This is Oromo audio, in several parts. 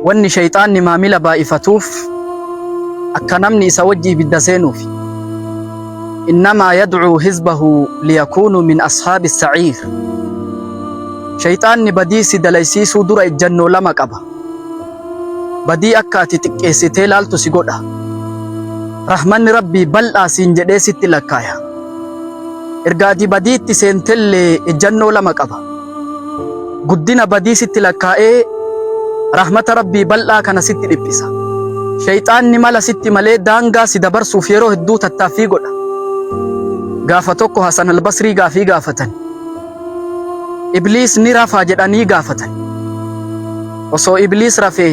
Wanni sheyxaanni maamila baay'ifatuuf akka namni isa wajji ibidda seenuufi. Innamaa yad'uu hizbahu liyakuunuu min ashaabi saciir. Sheyxaanni badii si dalaysiisuu dura ejjannoo lama qaba. Badii akka ati xiqqeessitee laaltu si godha. Rahmanni Rabbii bal'aa siin jedhee sitti lakkaaya. Erga ati badiitti seentellee ejjannoo lama qaba. guddina badii sitti lakkaa'ee rahmata rabbii bal'aa kana sitti dhiphisa shayxaanni mala sitti malee daangaa si dabarsuuf yeroo hedduu tattaaffii godha gaafa tokko hasan albasrii gaafii gaafatan ibliis ni rafaa jedhanii gaafatan osoo ibliis rafee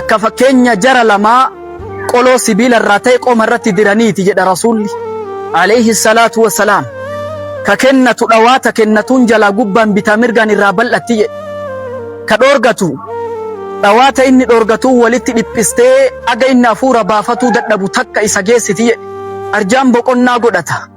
Akka fakkeenya jara lamaa qoloo sibiila irraa ta'e qoma irratti diraniiti jedha Rasuulli alayhi salaatu wassalaam. Ka kennatu dhawaata kennatuun jalaa gubbaan bitaa mirgaan irraa bal'atti jedhe. Ka dhoorgatu dhawaata inni dhoorgatuun walitti dhiphistee aga inni hafuura baafatuu dadhabu takka isa geessiti jedhe. Arjaan boqonnaa godhata.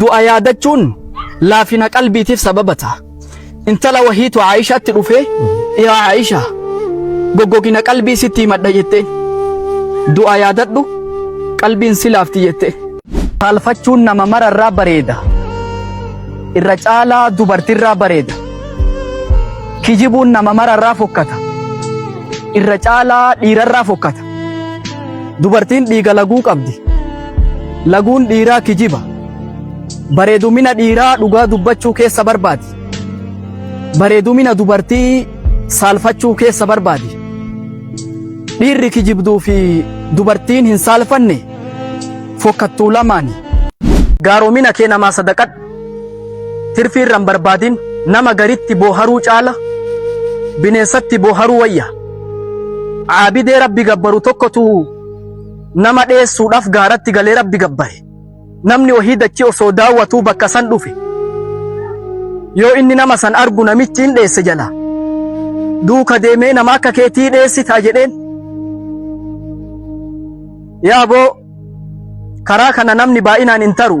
Du'a yaadachuun laafina qalbiitiif sababa ta'a. Intala wahiitu Aayishaatti dhufee, yaa Aayisha, goggogina qalbii sitti himadha jettee. Du'a yaadadhu, qalbiin si laafti jettee. Saalfachuun nama mara irraa bareeda. Irra caalaa dubartii irraa bareeda. Kijibuun nama mara irraa fokkata. Irra caalaa dhiira irraa fokkata. Dubartiin dhiiga laguu qabdi. Laguun dhiiraa kijiba. Bareedumina dhiiraa dhugaa dubbachuu keessa barbaadi. Bareedumina dubartii saalfachuu keessa barbaadi. Dhiirri kijibduu fi dubartiin hin saalfanne fokkattuu lamaani. Gaaromina kee namaa sadaqadhu. Tirfii irra hin barbaadin. Nama garitti booharuu caala bineensatti booharuu wayya. Caabidee rabbi gabbaru tokkotu nama dheessuudhaaf gaaratti galee rabbi gabbare. Namni ohii dachii osoo daawwatuu bakka san dhufe. Yoo inni nama san argu namichi hin dheesse jala. Duuka deemee nama akka keetii dheessitaa jedheen. Yaa boo karaa kana namni baay'inaan hin taru.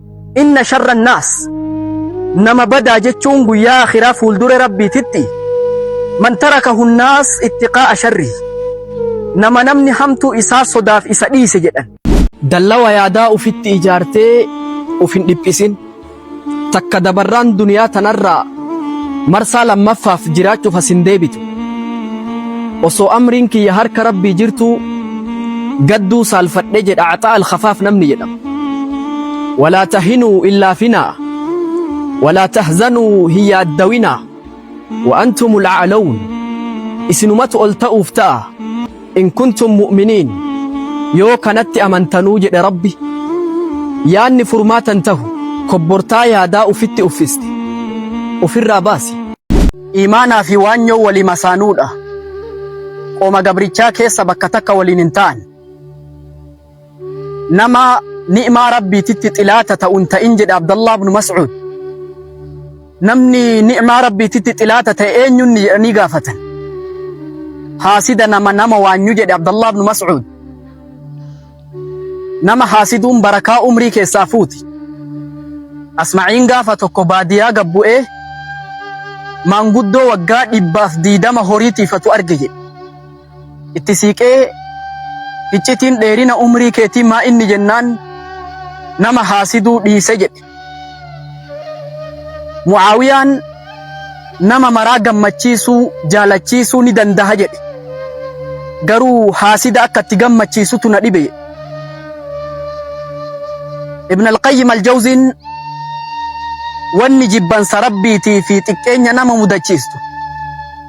inna sharra naas nama badaa jechuun guyyaa akhiraa fuuldure rabbiititti man taraka hunnaas ittiqaa'a sharri nama namni hamtuu isaa sodaaf isa dhiise jedhan dallawa yaadaa ufitti ijaartee uf hin dhiphisin takka dabarraan duniyaa tanarraa marsaa lammaffaaf jiraachuuf as hin deebitu osoo amriin kiyya harka rabbii jirtuu gadduu saalfadhe jedha axaa alkafaaf namni jedhama Walaa tahinuu hin laafinaa Walaa tahzanuu hin yaaddawinaa Wa antumul a'lawun Isinumatu ol ta'uuf ta'a In kuntum mu'miniin Yoo kanatti amantanuu jedhe Rabbi Yaanni furmaata hin tahu Kobbortaa yaadaa ufitti uffiste Ufirraa baasi. Iimaanaa fi waanyoon walii masaanuudha. Qooma gabrichaa keessa bakka takka waliin hin ta'an. Nama ni'maa Rabbiititti xilaata ta'u hin ta'in jedhe Abdallah ibn Mas'ud. Namni ni'maa Rabbiititti xilaata ta'e eenyuun jedhanii gaafatan. Haasida nama nama waanyu jedhe Abdallah ibn Mas'ud. Nama haasiduun barakaa umrii keessaa fuuti. Asma'iin gaafa tokko baadiyaa gabbu'ee maanguddoo waggaa dhibbaaf diidama horii tiifatu arge jedhe. Itti siiqee hiccitiin dheerina umrii keetii maa inni jennaan nama haasiduu dhiise jedhe. Mu'aawiyaan nama maraa gammachiisuu jaalachiisuu ni dandaha jedhe. Garuu haasida akka itti gammachiisutu na dhibe. Ibn al-Qayyim al-Jawziin wanni jibbansa rabbiitii fi xiqqeenya nama mudachiistu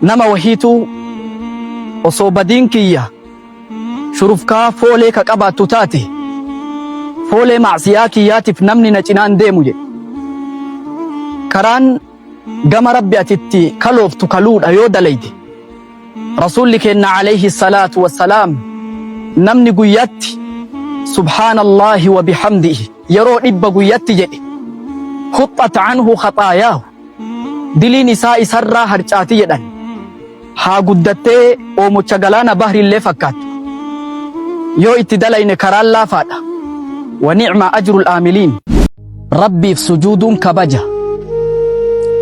Nama wahiituu osoo badiin kiyya shurufkaa foolee ka qabaattu taate, foolee ma'siyaa kiyyaatiif namni na cinaan deemu jedhe. Karaan gama Rabbi ati itti kalooftu kaluudha yoo dalayde, Rasuulli keenna aleyhi salaatu wa salaam namni guyyatti subhaanallaahi wa bihamdihi yeroo dhibba guyyatti jedhe, huxxat anhu khaxaayaahu. Diliin isaa isarraa harcaati jedhan. Haa guddattee oomocha galaana bahrillee fakkaattu. Yoo itti dalayne karaan laafaadha. Wa ni'ma ajrul aamiliin. Rabbiif sujuuduun kabaja.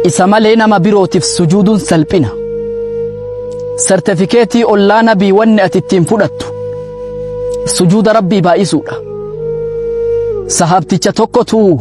Isa malee nama birootiif sujuuduun salphina. Sertifikeetii ollaa nabii wanni ati ittiin fudhattu. Sujuuda Rabbii baay'isuudha. Sahaabticha tokkotu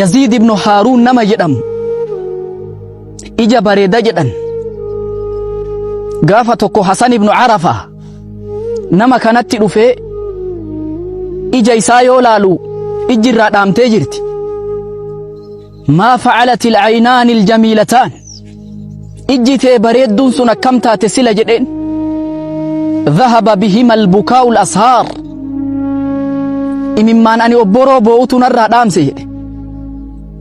Yaziid ibnu Haaruun nama jedhamu ija bareeda jedhan gaafa tokko Hasan ibnu Arafa nama kanatti dhufee ija isaa yoo laalu ijji irraa dhaamtee jirti maa facalati alcaynaani aljamiilataan ijji tee bareedduun sun akkam taate sila jedheen dhahaba bihima albukaa'u lashaar imimmaan ani obboroo boo'utu narraa dhaamse jedhe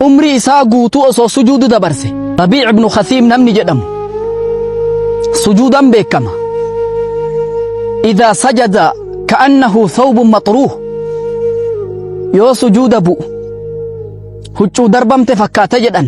umrii isaa guutuu osoo sujuudu dabarse rabiic ibnu khasiim namni jedhamu sujuudan beekama idaa sajada ka'annahu thawbun maxruuh yoo sujuuda bu'u huccuu darbamte fakkaata jedhan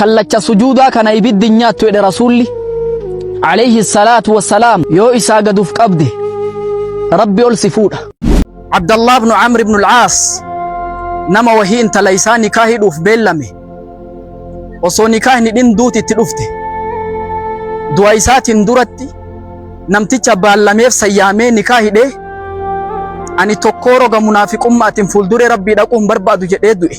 kallacha sujuudaa kana ibiddi hin nyaattu jedhe rasuulli alayhi salaatu wassalaam yoo isaa gad uf qabde rabbi ol si fuudha abdallah ibnu camr ibnu alcaas nama wahii intala isaa nikaa hidhuuf beellame osoo nikaa hin hidhin duuti itti dhufte du'a isaatiin duratti namticha baallameef sayyaamee nikaa hidhee ani tokkoo roga munaafiqummaa atin fuulduree rabbii dhaquun barbaadu jedhee du'e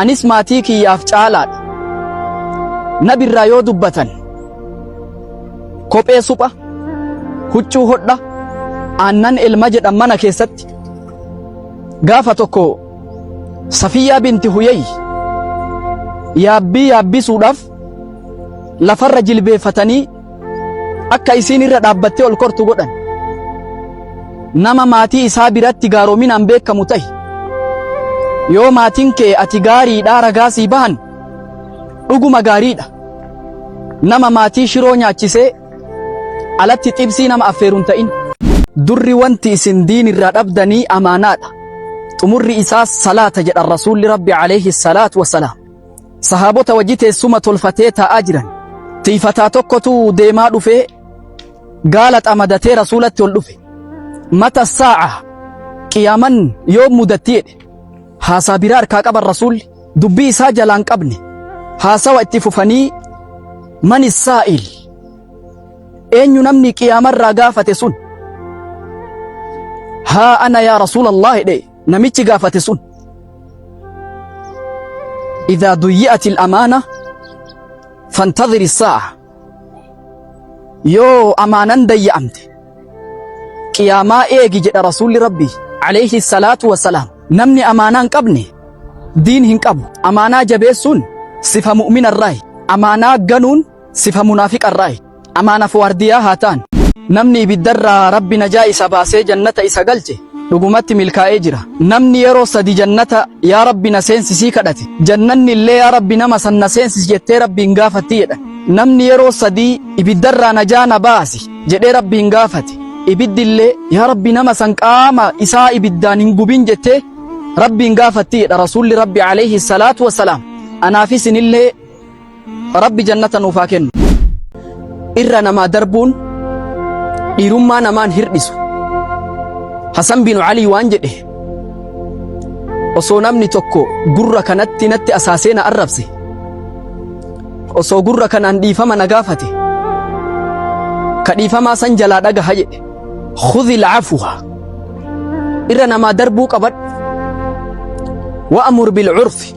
anis maatii kiyyaaf caalaadha. Nabi irraa yoo dubbatan kophee supha, huccuu hodha, aannan elma jedhan mana keessatti gaafa tokko Safiyyaa binti Huyay yaabbii yaabbisuudhaaf lafarra jilbeeffatanii akka isiin irra dhaabbattee ol kortu godhan nama maatii isaa biratti gaaroominaan beekamu tahi yoo maatiin kee ati gaariidhaa ragaa sii bahan dhuguma gaariidha nama maatii shiroo nyaachisee alatti xibsii nama affeeruun ta'in durri wanti isin diin irraa dhabdanii amaanaadha xumurri isaas salaata jedhan rasuulli rabbi alayhi salaatu wasalaam Sahaabota wajji teessuma tolfatee taa'aa jiran. Tiifataa tokkotu deemaa dhufee gaala xamadatee rasuulatti ol dhufe. Mata saa'a qiyaaman yoo mudattii jedhe. Haasaa biraa harkaa qaban rasuulli dubbii isaa jalaan qabne. Haasawa itti fufanii mani saa'il eenyu namni qiyaamarraa gaafate sun. Haa ana yaa rasuulallah jedhe. Namichi gaafate sun idaa duyyi'ati amaana fantadhiri saa'a yoo amaanan dayya'amte qiyaamaa eegi jedha rasuulli rabbi alayhi salaatu wasalaam namni amaanaa hin qabne diin hin qabu amaanaa jabeessuun sifa mu'mina irraayi amaanaa ganuun Sifa munaafiqarraayi. Amaanaaf waardiyaa haa taanu. Namni ibiddarraa Rabbi najaa isa baasee jannata isa galche dhugumatti milkaa'ee jira. Namni yeroo sadi jannata yaa Rabbi na seensisii kadhate jannanni illee yaa Rabbi nama san na seensis jettee Rabbiin gaafatti jedhan. Namni yeroo sadii ibiddarraa najaa na baasi jedhee Rabbiin gaafate ibiddi illee yaa Rabbi nama san qaama isaa ibiddaan hin gubin jettee Rabbiin gaafatti jedha Rasuulli Rabbi alayhi salaatu wassalaam. Anaafis inillee Rabbi jannata nuuf haa kennu. Irra namaa darbuun dhiirummaa namaan hirdhisu. Hasan bin Alii waan jedhe osoo namni tokko gurra kanatti natti asaasee na arrabse osoo gurra kanaan dhiifama na gaafate ka dhiifamaa san jalaa dhagaha jedhe khudhi laafuha irra namaa darbuu qabadhu wa'amur bilcurfi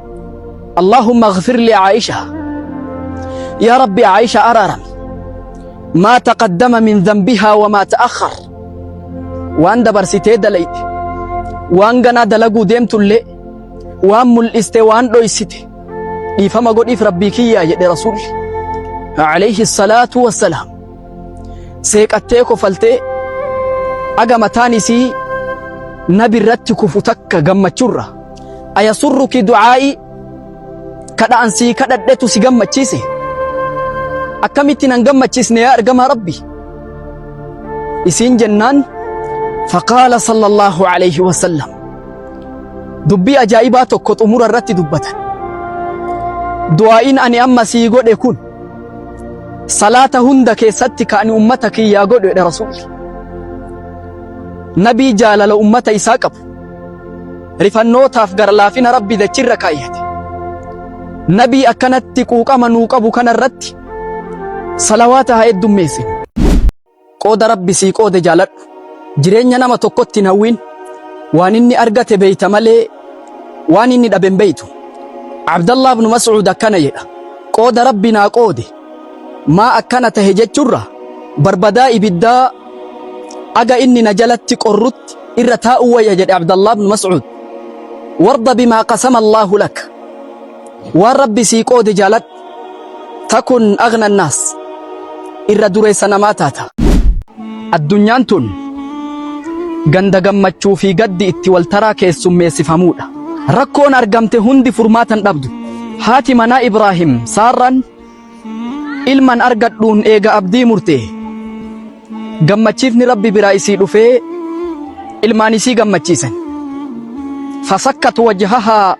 Allaahumma ighfir li Aa'isha Yaa Rabbi Aa'isha araarami maa taqaddama min dhanbihaa wa maa ta'akhkhar waan dabarsitee dalayde waan ganaa dalaguu deemtullee waan mul'iste waan dhoysite dhiifama godhiif rabbii kiyyaa jedhe rasuulli alayhi salaatu wassalaam seeqattee kofaltee aga mataan isii nabi irratti kufu takka gammachurra Ayasurruki du'aa'ii kadha'an sii kadhadhetu si gammachiise akkamitti nan gammachiisne yaa ergamaa rabbi isiin jennaan faqaala sallallahu alayhi wasallam dubbii ajaa'ibaa tokko xumura irratti dubbatan du'aa'iin ani amma sii godhe kun salaata hunda keessatti ka ani ummata kiyyaa godhedha rasuulli nabii jaalala ummata isaa qabu rifannootaaf garlaafina rabbi dachirra kaayyate nabii akkanatti quuqama nuu qabu kana irratti salawaata haa heddummeessinu qooda rabbi sii qoode jaaladhu jireenya nama tokkotti hin hawwiin waan inni argate beeyta malee waan inni dhabe hin beeytu abdallah ibnu mas'uud akkana jedha qooda rabbi naa qoode maa akkana tahe jechurra barbadaa ibiddaa aga inni na jalatti qorrutti irra taa'uu wayya jedhe Abdallah ibn Mas'ud warda bimaa qasama Allahu lak waan rabbi sii qoode jaaladhu takun agna annaas irra dureessa namaa taata addunyaan tun ganda gammachuu fi gaddi itti waltaraa keessummeessifamuudha Rakkoon argamte hundi furmaata hin dhabdu. Haati manaa Ibraahim Saarraan ilman argadhuun eega abdii murte. Gammachiifni Rabbi biraa isii dhufee ilmaan isii gammachiisan. Fasakkat wajhahaa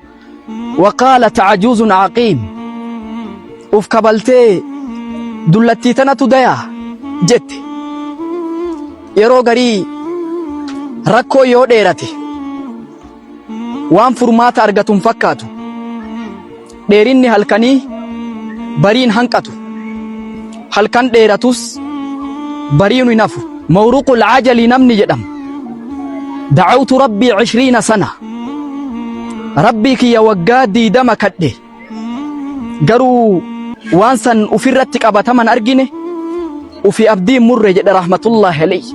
waqaalat cajuuzun caqiim. Uf kabaltee dullattii tanatu dayaa jette. Yeroo garii rakkoo yoo dheerate Waan furmaata argatu hin fakkaatu. Dheerinni halkanii bariin hanqatu. Halkan dheeratus bariinu hin hafu. Mawruqul Ajalii namni jedhamu. Dacawtu Rabbii cishriina sana. Rabbii kiyya waggaa diidama kadhe. garuu waan san ufirratti qabataman argine ufi abdii murre jedhe rahmatullahi alayhi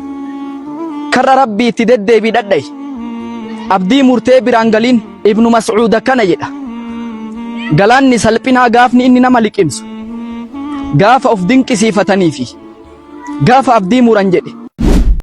karra rabbii itti deddeebii dhadha'i abdii murtee biraan galiin ibnu mas'uud akkana jedha galaanni salphinaa gaafni inni nama liqimsu gaafa of dinqisiifatanii fi gaafa abdii muran jedhe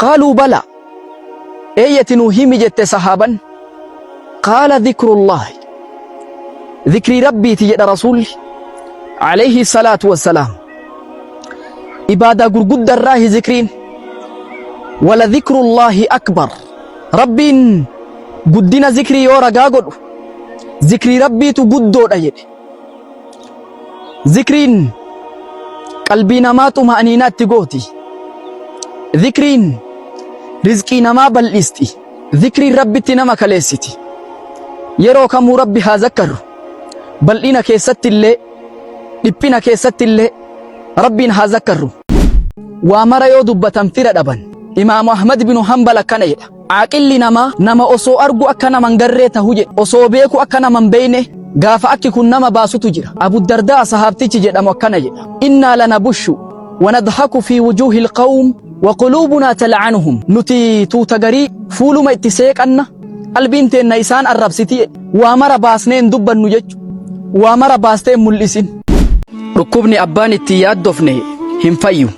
Qaaluu balaa. Eeyyati nuu himi jette sahaaban. Qaala dhikrullaahi. Dhikrii Rabbiiti jedha Rasuulli. Alayhi salaatu wassalaam. Ibaadaa gurgudda irraahi dhikriin. Wala dhikrullaahi akbar. Rabbiin guddina dhikrii yoo ragaa godhu dhikrii Rabbiitu guddoodha jedhe. Zikriin qalbii namaa xuma'aniinaatti gooti. Zikriin rizqii namaa bal'isti. Zikriin rabbitti nama kaleessiti. Yeroo kamuu rabbi haa zakkarru. Bal'ina keessatti illee dhiphina keessatti illee rabbiin haa zakkarru. Waa mara yoo dubbatan fira dhaban. Imaamu Ahmad binu Hanbal akkana jedha. Aaqilli namaa nama osoo argu akka nama hin garree tahu jedhe, osoo beeku akka nama hin beeyne gaafa akki kun nama baasutu jira. Abu Dardaa sahaabtichi jedhamu akkana jedha, Innaa lanabushu wa nadhaku fii wujuuhil qawm wa quluubunaa tal'anuhum. Nuti tuuta garii fuuluma itti seeqanna, qalbiin teenna isaan arrabsiti jedhe. Waa mara baasnee hin dubbannu jechu, waa mara baastee hin mul'isin. Dhukkubni abbaan itti hin yaaddofne hin fayyu.